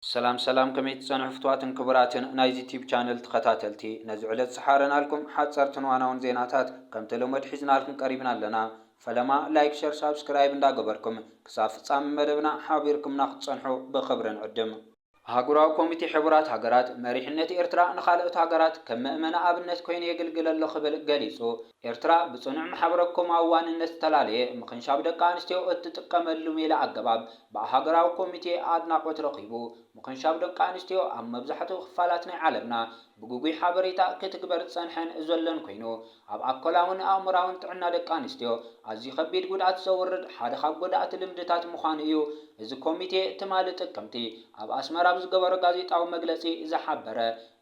ሰላም ሰላም ከመይ ትጸንሑ ፍትዋትን ክቡራትን ናይዚ ቲዩብ ቻነል ትኸታተልቲ ነዚ ዕለት ዝሓረናልኩም ሓጸርትን ዋናውን ዜናታት ከምተለመድ ሒዝናልኩም ቀሪብና ኣለና ፈለማ ላይክ ሸር ሳብስክራይብ እንዳገበርኩም ክሳብ ፍጻሚ መደብና ሓቢርኩምና ክትጸንሑ ብኽብሪ ንዕድም። ኣህጉራዊ ኮሚቴ ሕቡራት ሃገራት፣ መሪሕነት ኤርትራ ንኻልኦት ሃገራት ከም መእመኒ ኣብነት ኮይኑ የግልግል ኣሎ ክብል ገሊጹ። ኤርትራ ብጽኑዕ ማሕበረ-ኮማዊ ዋንነት ዝተላለየ ምኽንሻብ ደቂ ኣንስትዮ እትጥቀመሉ ሜላ ኣገባብ ብኣህጉራዊ ኮሚቴ ኣድናቖት ረኺቡ። ምኽንሻብ ደቂ ኣንስትዮ ኣብ መብዛሕትኡ ክፋላት ናይ ዓለምና ብግጉይ ሓበሬታ ክትግበር ዝጸንሐን ዘሎን ኮይኑ፣ ኣብ ኣኮላውን ኣእምሮኣውን ጥዕና ደቂ ኣንስትዮ ኣዝዩ ከቢድ ጉድኣት ዘውርድ ሓደ ካብ ጎዳእቲ ልምድታት ምዃኑ እዩ እዚ ኮሚቴ ትማሊ ጥቅምቲ ኣብ ኣስመራ ኣብ ዝገበሮ ጋዜጣዊ መግለጺ ዝሓበረ።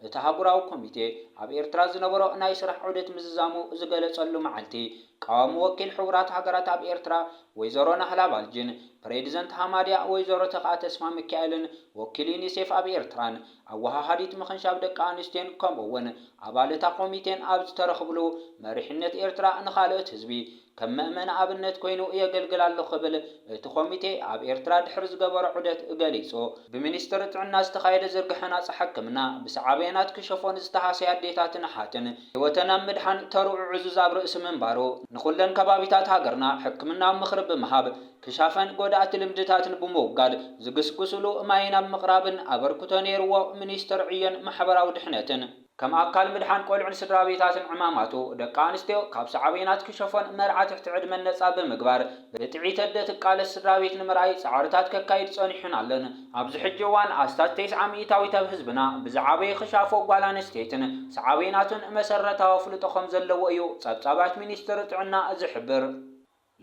እቲ ኣህጉራዊ ኮሚቴ ኣብ ኤርትራ ዝነበሮ ናይ ስራሕ ዑደት ምዝዛሙ ዝገለጸሉ መዓልቲ፣ ቀዋሚ ወኪል ሕቡራት ሃገራት ኣብ ኤርትራ ወይዘሮ ናህላ ባልጅን ፕሬድዘንት ሃማድያ ወይዘሮ ተኽኣ ተስፋሚካኤልን ወኪል ዩኒሴፍ ኣብ ኤርትራን ኣወሃሃዲት ምኽንሻብ ደቂ ኣንስትዮን ከምኡ'ውን ኣባል እታ ኮሚቴን ኣብ ዝተረኽብሉ መሪሕነት ኤርትራ ንኻልኦት ህዝቢ ከም መእመን ኣብነት ኮይኑ የገልግል ኣሎ ክብል እቲ ኮሚቴ ኣብ ኤርትራ ድሕሪ ዝገበሮ ዑደት ገሊጹ። ብሚኒስትሪ ጥዕና ዝተኻየደ ዝርግሐ ናጻ ሕክምና፣ ብሳዕቤናት ክሸፎን ዝተሃሰያ ኣዴታትን ኣሓትን ህይወተን ኣብ ምድሓን ተርኡ ዕዙዝ ኣብ ርእሲ ምንባሩ፣ ንኹለን ከባቢታት ሃገርና ሕክምናዊ ምኽሪ ብምሃብ፣ ክሻፈን ጎዳእቲ ልምድታትን ብምውጋድ ዝግስግሱሉ ማይን ኣብ ምቕራብን ኣበርክቶ ነይሩዎ ሚኒስትር ዕዮን ማሕበራዊ ድሕነትን። ከም ኣካል ምድሓን ቆልዑን ስድራቤታትን ዕማማቱ፣ ደቂ ኣንስትዮ ካብ ሳዕቤናት ክሸፎን መርዓ ትሕቲ ዕድመን ነጻ ብምግባር ብጥዒት ኣደ ትቃለስ ስድራቤት ንምርኣይ ጻዕርታት ከካይድ ጸኒሑን ኣሎን። ኣብዚ ሕጂ እዋን ኣስታት ተስዓ ሚኢታዊት ኣብ ህዝብና ብዝዓበየ ክሻፎ ጓል ኣንስተይትን ሳዕቤናቱን መሰረታዊ ኣፍልጦ ከምዘለዎ እዩ ጸብጻባት ሚኒስትሪ ጥዕና ዝሕብር።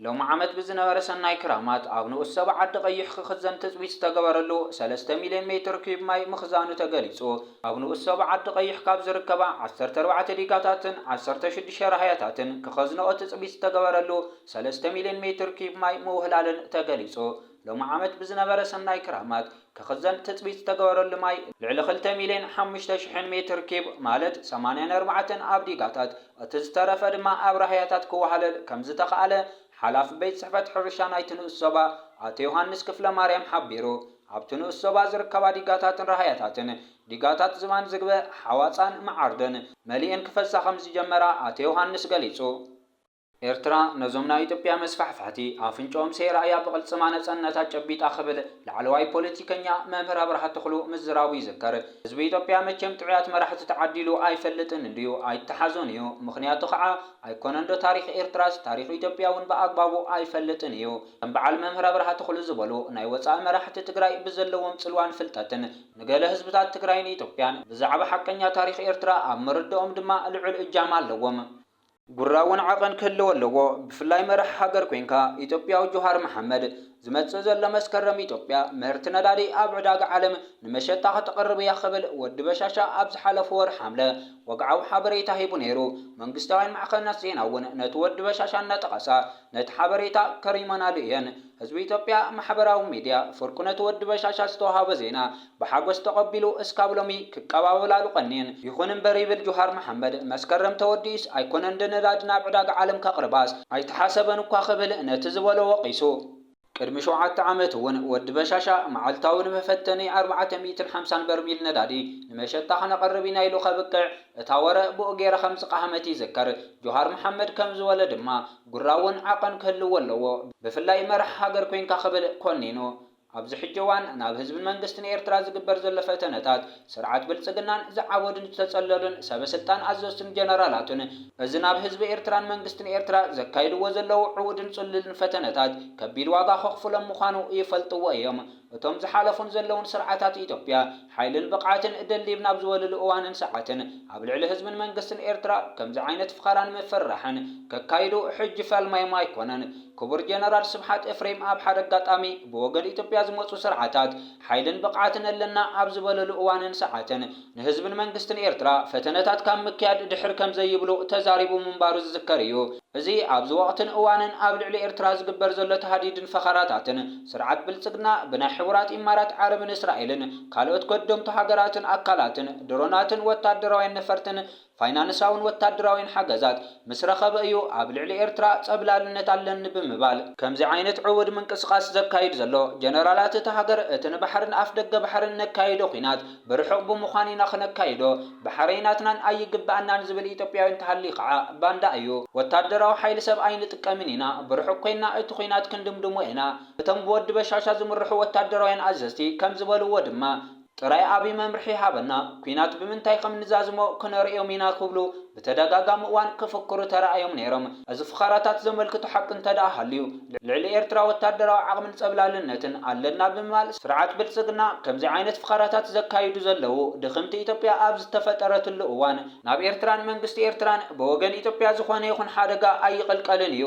ሎሚ ዓመት ብዝነበረ ሰናይ ክራማት ኣብ ንኡስ ዞባ ዓዲ ቐይሕ ክኽዘን ትፅቢት ዝተገበረሉ ሰለስተ ሚሊየን ሜትር ኪዩብ ማይ ምኽዛኑ ተገሊፁ። ኣብ ንኡስ ዞባ ዓዲ ቐይሕ ካብ ዝርከባ ዓሰርተ ኣርባዕተ ዲጋታትን ዓሰርተ ሽዱሽተ ራህያታትን ክኸዝንኦ ትፅቢት ዝተገበረሉ ሰለስተ ሚሊየን ሜትር ኪዩብ ማይ ምውህላለን ተገሊፁ። ሎሚ ዓመት ብዝነበረ ሰናይ ክራማት ክኽዘን ትፅቢት ዝተገበረሉ ማይ ልዕሊ ክልተ ሚሊየን ሓሙሽተ ሽሕን ሜትር ኪዩብ ማለት ሰማንያ ነርባዕተን ኣብ ዲጋታት እቲ ዝተረፈ ድማ ኣብ ራህያታት ክወሃለል ከምዝተኽኣለ ሓላፊ ቤት ፅሕፈት ሕርሻ ናይቲ ንኡስ ዞባ ኣቶ ዮሃንስ ክፍለማርያም ሓቢሩ። ኣብቲ ንኡስ ዞባ ዝርከባ ዲጋታትን ራህያታትን ዲጋታት ዝባን ዝግበ፣ ሓዋፃን መዓርድን መሊኤን ክፈሳ ከምዝጀመራ ኣቶ ዮሃንስ ገሊፁ። ኤርትራ ነዞም ናይ ኢትዮጵያ መስፋሕፋሕቲ ኣፍንጭኦም ሰይራ'ያ ብቕልጽማ ነጸነታ ጨቢጣ ክብል ላዕለዋይ ፖለቲከኛ መምህር ኣብርሃ ተኽሉ ምዝራቡ ይዝከር። ህዝቢ ኢትዮጵያ መቸም ጥዑያት መራሕቲ ተዓዲሉ ኣይፈልጥን እንድዩ፣ ኣይተሓዞን እዩ። ምኽንያቱ ከኣ ኣይኮነንዶ ታሪኽ ኤርትራስ ታሪኽ ኢትዮጵያ'ውን ብኣግባቡ ኣይፈልጥን እዩ። ከም በዓል መምህር ኣብርሃ ተኽሉ ዝበሉ ናይ ወጻኢ መራሕቲ ትግራይ ብዘለዎም ጽልዋን ፍልጠትን ንገለ ህዝብታት ትግራይን ኢትዮጵያን ብዛዕባ ሓቀኛ ታሪኽ ኤርትራ ኣብ ምርዳኦም ድማ ልዑል እጃም ኣለዎም። ጉራ'ውን ዓቐን ክህልዎ ኣለዎ ብፍላይ መራሒ ሃገር ኮንካ። ኢትዮጵያዊ ጆሃር መሓመድ፣ ዝመጽእ ዘሎ መስከረም ኢትዮጵያ ምህርቲ ነዳዲ ኣብ ዕዳጋ ዓለም ንመሸጣ ከተቕርብ እያ ክብል ወዲ በሻሻ ኣብ ዝሓለፉ ወርሒ ሓምለ ወግዓዊ ሓበሬታ ሂቡ ነይሩ። መንግስታውያን ማዕኸናት ዜና'ውን ነቲ ወዲ በሻሻ እናጠቐሳ ነቲ ሓበሬታ ከሪመናሉ እየን። ህዝቢ ኢትዮጵያ ማሕበራዊ ሚድያ ፍርቁ ነቲ ወዲ በሻሻ ዝተውሃበ ዜና ብሓጎስ ተቐቢሉ እስካብ ሎሚ ክቀባበላሉ ቀንየን። ይኹን እምበር ይብል ጁሃር መሓመድ፣ መስከረም ተወዲኡስ ኣይኮነን እንደ ነዳዲ ናብ ዕዳጋ ዓለም ከቕርባስ ኣይተሓሰበን እኳ ክብል ነቲ ዝበሎ ወቒሱ። ቅድሚ ሸውዓተ ዓመት እውን ወዲ በሻሻ መዓልታዊ ንመፈተኒ ኣርባዕተ ሚእትን ሓምሳን በርሚል ነዳዲ ንመሸጣ ከነቕርብ ኢና ኢሉ ከብቅዕ እታ ወረ ብኡ ገይራ ከም ዝቐሃመት ይዝከር። ጁሃር መሓመድ ከም ዝበሎ ድማ ጉራ እውን ዓቐን ክህልዎ ኣለዎ ብፍላይ መራሒ ሃገር ኮይንካ ክብል ኮኒኑ። ኣብዚ ሕጂ እዋን ናብ ህዝብን መንግስትን ኤርትራ ዝግበር ዘሎ ፈተነታት፣ ስርዓት ብልጽግናን ዝዓበዱን ዝተጸለሉን ሰበ-ስልጣን ኣዘዝቱን ጀነራላቱን፣ እዚ ናብ ህዝቢ ኤርትራን መንግስትን ኤርትራ ዘካይድዎ ዘለዉ ዕዉድን ጽሉልን ፈተነታት ከቢድ ዋጋ ከኽፍሎም ምዃኑ ይፈልጥዎ እዮም። እቶም ዝሓለፉን ዘለዉን ስርዓታት ኢትዮጵያ፣ ሓይልን ብቕዓትን ደልዲብ ናብ ዝበልሉ እዋንን ሰዓትን ኣብ ልዕሊ ህዝብን መንግስትን ኤርትራ ከምዚ ዓይነት ፍኸራን ምፍርራሕን ከካይዱ ሕጂ ፈልማዮም ኣይኮነን። ክቡር ጀነራል ስብሓት እፍሬም ኣብ ሓደ ኣጋጣሚ ብወገን ኢትዮጵያ ዝመጹ ስርዓታት ሓይልን ብቕዓትን ኣለና ኣብ ዝበለሉ እዋንን ሰዓትን ንህዝብን መንግስትን ኤርትራ ፈተነታት ካብ ምክያድ ድሕር ከምዘይብሉ ተዛሪቡ ምንባሩ ዝዝከር እዩ። እዚ ኣብዚ ወቕትን እዋንን ኣብ ልዕሊ ኤርትራ ዝግበር ዘሎ ታህዲድን ፈኸራታትን፣ ስርዓት ብልጽግና ብናይ ሕቡራት ኢማራት ዓረብን እስራኤልን ካልኦት ከደምቱ ሃገራትን ኣካላትን ድሮናትን ወታደራውያን ነፈርትን ፋይናንሳውን ወታደራውያን ሓገዛት ምስ ረኸበ እዩ ኣብ ልዕሊ ኤርትራ ጸብላልነት ኣለኒ ብምባል ከምዚ ዓይነት ዕዉት ምንቅስቓስ ዘካይድ ዘሎ። ጀነራላት እታ ሃገር እቲ ንባሕርን ኣፍደገ ባሕርን ነካይዶ ኲናት ብርሑቕ ብምዃን ኢና ክነካይዶ ብሓረይ ናትናን ኣይግበኣናን ዝብል ኢትዮጵያዊ እንተሃልዩ ከዓ ባንዳ እዩ። ወታደራዊ ሓይሊ ሰብ ኣይንጥቀምን ኢና ብርሑቕ ኮይንና እቲ ኹናት ክንድምድሞ ኢና እቶም ብወዲ በሻሻ ዝምርሑ ወታደራውያን ኣዘዝቲ ከም ዝበልዎ ድማ ጥራይ ኣብይ መምርሒ ይሃበና ኲናት ብምንታይ ከም ንዛዝሞ ክነርእዮም ኢና ክብሉ ብተደጋጋሚ እዋን ክፍክሩ ተራእዮም ነይሮም። እዚ ፍኸራታት ዘመልክቶ ሓቂ እንተድኣ ሃልዩ፣ ልዕሊ ኤርትራ ወታደራዊ ዓቕምን ጸብላልነትን ኣለና ብምባል ስርዓት ብልጽግና ከምዚ ዓይነት ፍኸራታት ዘካይዱ ዘለዉ ድኽምቲ ኢትዮጵያ ኣብ ዝተፈጠረትሉ እዋን ናብ ኤርትራን መንግስቲ ኤርትራን ብወገን ኢትዮጵያ ዝኾነ ይኹን ሓደጋ ኣይቕልቀልን እዩ።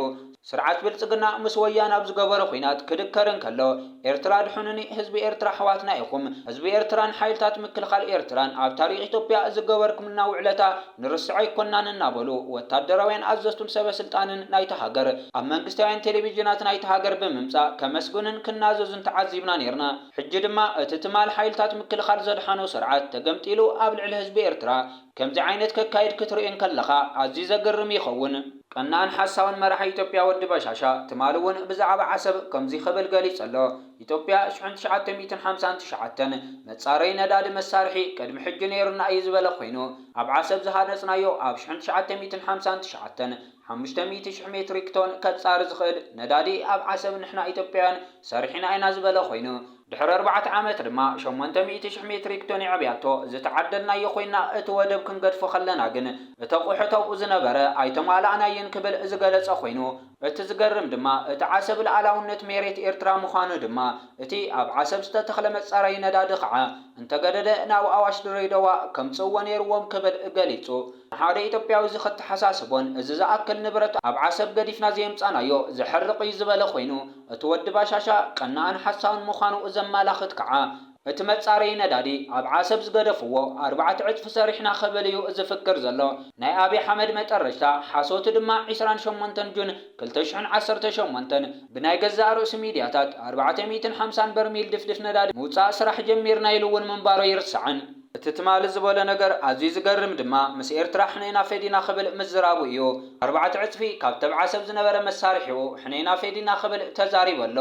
ስርዓት ብልጽግና ምስ ወያነ ኣብ ዝገበሮ ኹናት ክድከር እንከሎ ኤርትራ ኣድሑኑኒ፣ ህዝቢ ኤርትራ ኣሕዋትና ኢኹም፣ ህዝቢ ኤርትራን ሓይልታት ምክልኻል ኤርትራን ኣብ ታሪኽ ኢትዮጵያ ዝገበርኩምልና ውዕለታ ንርስዖ ኣይኮናን እናበሉ ወታደራውያን ኣዘዝቱን ሰበ ስልጣንን ናይታ ሃገር ኣብ መንግስታውያን ቴሌቪዥናት ናይታ ሃገር ብምምጻእ ከመስግኑን ክናዘዙን ተዓዚብና ኔርና። ሕጂ ድማ እቲ ትማል ሓይልታት ምክልኻል ዘድሓኖ ስርዓት ተገምጢሉ ኣብ ልዕሊ ህዝቢ ኤርትራ ከምዚ ዓይነት ከካይድ ክትርኢ እንከለኻ ኣዝዩ ዘገርም ይኸውን። ቀናእን ሓሳውን መራሒ ኢትዮጵያ ወዲ በሻሻ ትማል'ውን ብዛዕባ ዓሰብ ከምዚ ክብል ገሊጹ ኣሎ። ኢትዮጵያ ሽሕን ትሽዓተ ሚእትን ሓምሳን ትሽዓተን መፃረዪ ነዳዲ መሳርሒ ቅድሚ ሕጂ ነይሩና እዩ ዝበለ ኮይኑ ኣብ ዓሰብ ዝሃነፅናዮ ኣብ ሽሕን ትሽዓተ ሚእትን ሓምሳን ትሽዓተን ሓሙሽተ ሚእቲ ሽሕ ሜትሪክ ቶን ከፃሪ ዝኽእል ነዳዲ ኣብ ዓሰብ ንሕና ኢትዮጵያውያን ሰሪሒና ኢና ዝበለ ኮይኑ ድሕሪ ኣርባዕተ ዓመት ድማ ሸሞንተ ሚእቲ ሽሕ ሜትሪክ ቶን የዕብያቶ ዝተዓደልናዮ ኮይና እቲ ወደብ ክንገድፎ ከለና ግን እቲ ኣቑሑት ኣብኡ ዝነበረ ኣይተማላእናይን ክብል ዝገለፀ ኮይኑ እቲ ዝገርም ድማ እቲ ዓሰብ ልኣላውነት ሜሬት ኤርትራ ምዃኑ ድማ እቲ ኣብ ዓሰብ ዝተተኽለ መጻረዪ ነዳዲ ኸዓ እንተገደደ ናብ ኣዋሽ ድሬደዋ ከምጽእዎ ኔርዎም ክብል ገሊጹ። ንሓደ ኢትዮጵያዊ እዚ ከተሓሳስቦን እዚ ዝኣክል ንብረት ኣብ ዓሰብ ገዲፍና ዘየምጻእናዮ ዘሕርቕ'ዩ ዝበለ ኮይኑ እቲ ወዲ ባሻሻ ቀናእን ሓሳውን ምዃኑ ዘማላኽት ከዓ እቲ መፃረዪ ነዳዲ ኣብ ዓሰብ ዝገደፍዎ ኣርባዕተ ዕፅፊ ሰሪሕና ክብል እዩ ዝፍክር ዘሎ ናይ ኣብይ ሓመድ መጠረሽታ ሓሶቱ ድማ ዕስራን ሸሞንተን ጁን ክልተ ሽሕን ዓሰርተ ሸሞንተን ብናይ ገዛእ ርእሱ ሚድያታት ኣርባዕተ ሚእትን ሓምሳን በርሚል ድፍድፍ ነዳዲ ምውፃእ ስራሕ ጀሚርና ኢሉ እውን ምንባሩ ኣይርሳዕን። እቲ ትማሊ ዝበሎ ነገር ኣዝዩ ዝገርም ድማ ምስ ኤርትራ ሕነይና ፈዲና ክብል ምዝራቡ እዩ ኣርባዕተ ዕፅፊ ካብቲ ኣብ ዓሰብ ዝነበረ መሳርሒኡ ሕነይና ፌዲና ክብል ተዛሪቡ ኣሎ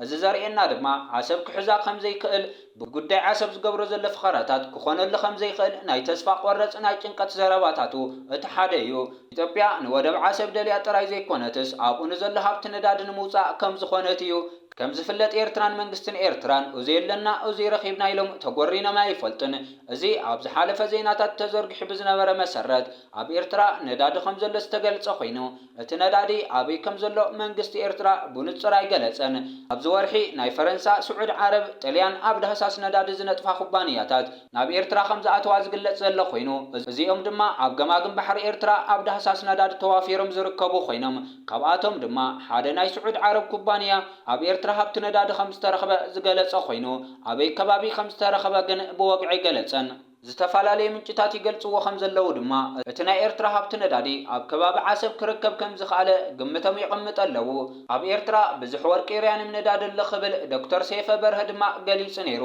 እዚ ዘርእየና ድማ ዓሰብ ክሕዛ ከም ዘይክእል፣ ብጉዳይ ዓሰብ ዝገብሮ ዘሎ ፈኸራታት ክኾነሉ ከም ዘይክእል ናይ ተስፋ ቆረጽ ናይ ጭንቀት ዘረባታቱ እቲ ሓደ እዩ። ኢትዮጵያ ንወደብ ዓሰብ ደልያ ጥራይ ዘይኮነትስ ኣብኡ ንዘሎ ሃብቲ ነዳዲ ንምውጻእ ከም ዝኾነት እዩ። ከም ዝፍለጥ ኤርትራን መንግስትን ኤርትራን እዙይ ኣለና እዙይ ረኺብና ኢሎም ተጎሪኖም ኣይፈልጡን። እዚ ኣብ ዝሓለፈ ዜናታት ተዘርጊሑ ብዝነበረ መሰረት ኣብ ኤርትራ ነዳዲ ከም ዘሎ ዝተገልጸ ኮይኑ፣ እቲ ነዳዲ ኣበይ ከም ዘሎ መንግስቲ ኤርትራ ብንጹር ኣይገለጸን። ኣብዚ ወርሒ ናይ ፈረንሳ፣ ስዑድ ዓረብ፣ ጥልያን ኣብ ዳህሳስ ነዳዲ ዝነጥፋ ኩባንያታት ናብ ኤርትራ ከም ዝኣተዋ ዝግለጽ ዘሎ ኮይኑ፣ እዚኦም ድማ ኣብ ገማግም ባሕሪ ኤርትራ ኣብ ዳህሳስ ነዳዲ ተዋፊሮም ዝርከቡ ኮይኖም ካብኣቶም ድማ ሓደ ናይ ስዑድ ዓረብ ኩባንያ ኣብ ኤርትራ ሃብቲ ነዳዲ ከም ዝተረኽበ ዝገለጸ ኮይኑ ኣበይ ከባቢ ከም ዝተረኽበ ግን ብወግዒ ኣይገለጸን። ዝተፈላለዩ ምንጭታት ይገልጽዎ ከምዘለዉ ድማ፣ እቲ ናይ ኤርትራ ሃብቲ ነዳዲ ኣብ ከባቢ ዓሰብ ክርከብ ከምዝኸኣለ ግምቶም የቐምጠ ኣለዉ። ኣብ ኤርትራ ብዝሕ ወርቂ ርያንም ነዳዲ ኣሎ ክብል ዶክተር ሰይፈ በርሀ ድማ ገሊጹ ነይሩ።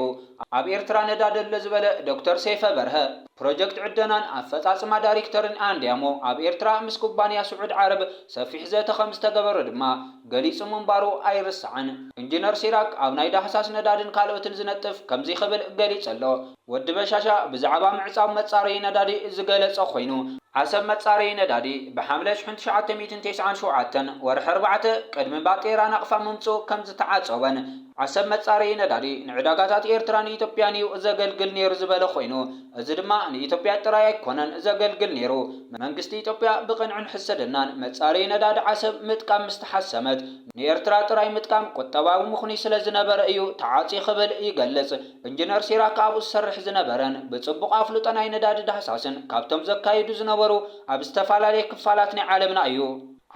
ኣብ ኤርትራ ነዳዲ ኣሎ ዝበለ ዶክተር ሰይፈ በርሀ፣ ፕሮጀክት ዕደናን ኣፈጻጽማ ዳሪክተርን ኣንድያሞ ኣብ ኤርትራ ምስ ኩባንያ ስዑድ ዓረብ ሰፊሕ ዘተ ከምዝተገበረ ድማ ገሊጹ ምንባሩ ኣይርሳዕን። ኢንጂነር ሲራክ ኣብ ናይ ዳህሳስ ነዳድን ካልኦትን ዝነጥፍ ከምዚ ክብል ገሊጹ ኣሎ። ወዲ በሻሻ ብዛዕባ ምዕጻው መጻረዪ ነዳዲ ዝገለጸ ኮይኑ፣ ዓሰብ መጻረዪ ነዳዲ ብሓምለ ሽሕን ትሽዓተ ሚእትን ተስዓን ሸውዓተን፣ ወርሒ ኣርባዕተ፣ ቅድሚ ባጤራ ናቕፋ ምምጽኡ ከምዝተዓጸወን፣ ዓሰብ መጻረዪ ነዳዲ ንዕዳጋታት ኤርትራን ኢትዮጵያን እዩ ዘገልግል ነይሩ ዝበለ ኮይኑ፣ እዚ ድማ ንኢትዮጵያ ጥራይ ኣይኮነን ዘገልግል ነይሩ። መንግስቲ ኢትዮጵያ ብቕንዕን ሕስድናን መጻረዪ ነዳዲ ዓሰብ ምጥቃም ምስ ተሓሰመት፣ ንኤርትራ ጥራይ ምጥቃም ቁጠባዊ ምኽኑይ ስለዝነበረ እዩ ተዓጽዩ ክብል ይገልጽ። እንጅነር ሲራክ ኣብኡ ዝሰርሕ ዝነበረን ብጽቡቕ ኣፍልጦ ናይ ነዳዲ ዳህሳስን ካብቶም ዘካይዱ ዝነበሩ ኣብ ዝተፋላለየ ክፋላት ናይ ዓለምና እዩ።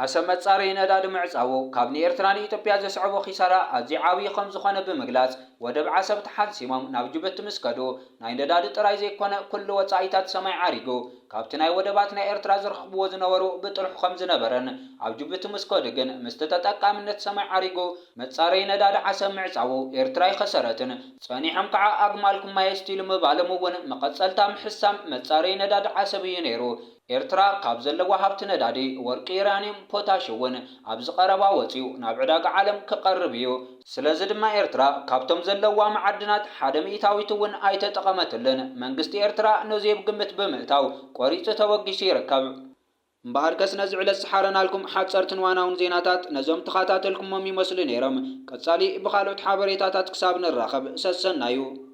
ዓሰብ መጻረዪ ነዳዲ ምዕጻዉ ካብ ንኤርትራ ንኢትዮጵያ ዘስዐቦ ኪሳራ ኣዝዩ ዓብዪ ከም ዝኾነ ብምግላጽ ወደብ ዓሰብ ተሓንሲሞም ናብ ጁብቲ ምስ ከዱ ናይ ነዳዲ ጥራይ ዘይኮነ ኩሉ ወጻኢታት ሰማይ ዓሪጉ ካብቲ ናይ ወደባት ናይ ኤርትራ ዝረኽብዎ ዝነበሩ ብጥርሑ ከም ዝነበረን ኣብ ጁብቲ ምስ ከዱ ግን ምስቲ ተጠቃምነት ሰማይ ዓሪጉ መጻረዪ ነዳዲ ዓሰብ ምዕጻዉ ኤርትራ ኣይኸሰረትን፣ ጸኒሖም ከኣ ኣግማልኩም ማይ ኣስትይሉ ምባሎም እዉን መቐጸልታ ምሕሳም መጻረዪ ነዳዲ ዓሰብ እዩ ነይሩ። ኤርትራ ካብ ዘለዋ ሃብቲ ነዳዲ፣ ወርቂ፣ ዩራንዩም፣ ፖታሽ እዉን ኣብዚ ቀረባ ወጺኡ ናብ ዕዳጋ ዓለም ክቐርብ እዩ። ስለዚ ድማ ኤርትራ ካብቶም ዘለዉዋ መዓድናት ሓደ ሚኢታዊት እዉን ኣይተጠቐመትሉን። መንግስቲ ኤርትራ ነዙይ ኣብ ግምት ብምእታው ቆሪጹ ተበጊሱ ይርከብ። እምበኣርከስ ነዚ ዕለት ዝሓረናልኩም ሓጸርትን ዋናውን ዜናታት ነዞም ተኻታተልኩሞም ይመስሉ ነይሮም። ቀጻሊ ብኻልኦት ሓበሬታታት ክሳብ ንራኸብ ሰሰናዩ።